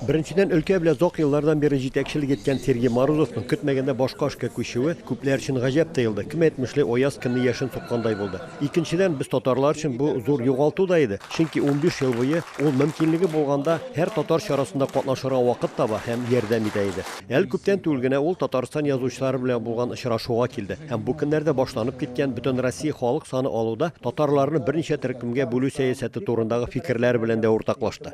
Беренчедән, өлкә белән озак еллардан бирле җитәкчелек иткән Сергей Морозовның көтмәгәндә башка эшкә күчүе күпләр өчен гаҗәп тоелды, кем әйтмешли, аяз көнне яшен суккандай булды. Икенчедән, без татарлар өчен бу зур югалту да иде, чөнки унбиш ел буе ул, мөмкинлеге булганда, һәр татар чарасында катнашырга вакыт таба һәм ярдәм итә иде. Әле күптән түгел генә ул Татарстан язучылары белән булган очрашуга килде һәм бу көннәрдә башланып киткән Бөтенроссия халык саны алуда татарларны берничә төркемгә бүлү сәясәте турындагы фикерләре белән дә уртаклашты.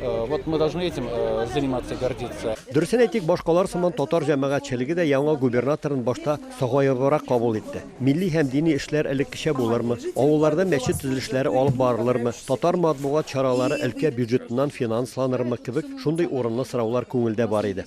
Э, вот мы должны этим э, заниматься и гордиться. Дөресен әйтик, башкалар сыман татар җәмәгатьчелеге дә яңа губернаторын башта сагайыбрак кабул итте. Милли һәм дини эшләр элеккечә булырмы? Авылларда мәчет төзелешләре алып барылырмы? Татар матбугат чаралары өлкә бюджетыннан финансланырмы кебек шундый урынлы сораулар күңелдә бар иде.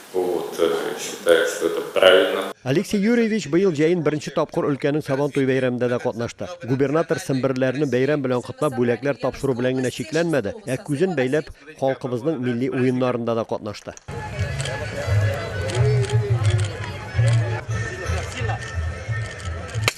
Алексей Юрьевич быел җәен беренче тапкыр өлкәнең Сабантуй бәйрәмендә дә катнашты. Губернатор семберләрне бәйрәм белән котлап, бүләкләр тапшыру белән генә чикләнмәде, ә күзен бәйләп, халкыбызның милли уеннарында да катнашты.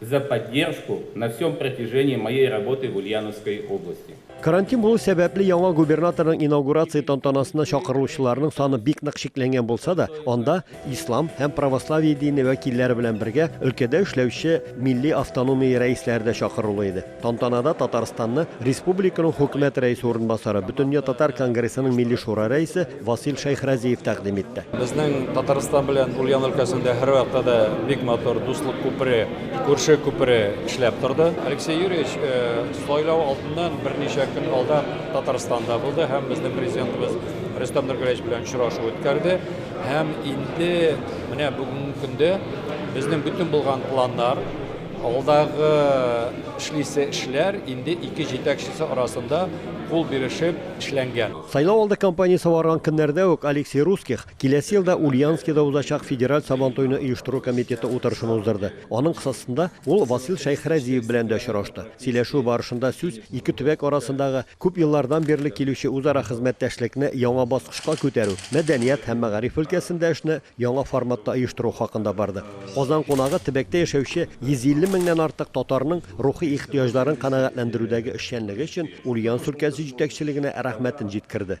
За поддержку на всем протяжении моей работы в Ульяновской области. Карантин булу сәбәпле, яңа губернаторның инаугурация тантанасына чакырылучыларның саны бик нык чикләнгән булса да, анда ислам һәм православие дине вәкилләре белән бергә өлкәдә эшләүче милли автономия рәисләре дә чакырулы иде. Тантанада Татарстанны республиканың Хөкүмәт рәисе урынбасары, Бөтендөнья татар конгрессының Милли шура рәисе Васил Шәйхразиев тәкъдим итте. Безнең Татарстан белән Ульян өлкәсендә һәрвакытта да бик матур дуслык күпере, күрше күпере эшләп торды. Алексей Юрьевич сайлау алдыннан берничә көн алдан Татарстанда булды һәм безнең Президентыбыз Рөстәм Нургәләевич белән очрашу үткәрде. Һәм инде менә бүгенге көндә безнең бөтен булган планнар, Алдагы эшлисе эшләр инде ике җитәкчесе арасында кул бирешеп эшләнгән. Сайлау алды кампаниясе барган көннәрдә үк Алексей Русских киләсе елда Ульяновскида узачак федераль Сабантуйны оештыру комитеты утырышын уздырды. Аның кысасында ул Васил Шәйхрәзиев белән дә очрашты. Сөйләшү барышында сүз ике төбәк арасындагы күп еллардан бирле килүче үзара хезмәттәшлекне яңа баскычка күтәрү, мәдәният һәм мәгариф өлкәсендә эшне Яңа форматта оештыру хакында бардык. Казан кунагы төбәктә яшәүче 150 меңнән артык татарның рухи ихтыяҗларын канәгатьләндерүдәге эшчәнлеге өчен Ульян өлкәсе җитәкчелегенә рәхмәтен җиткерде.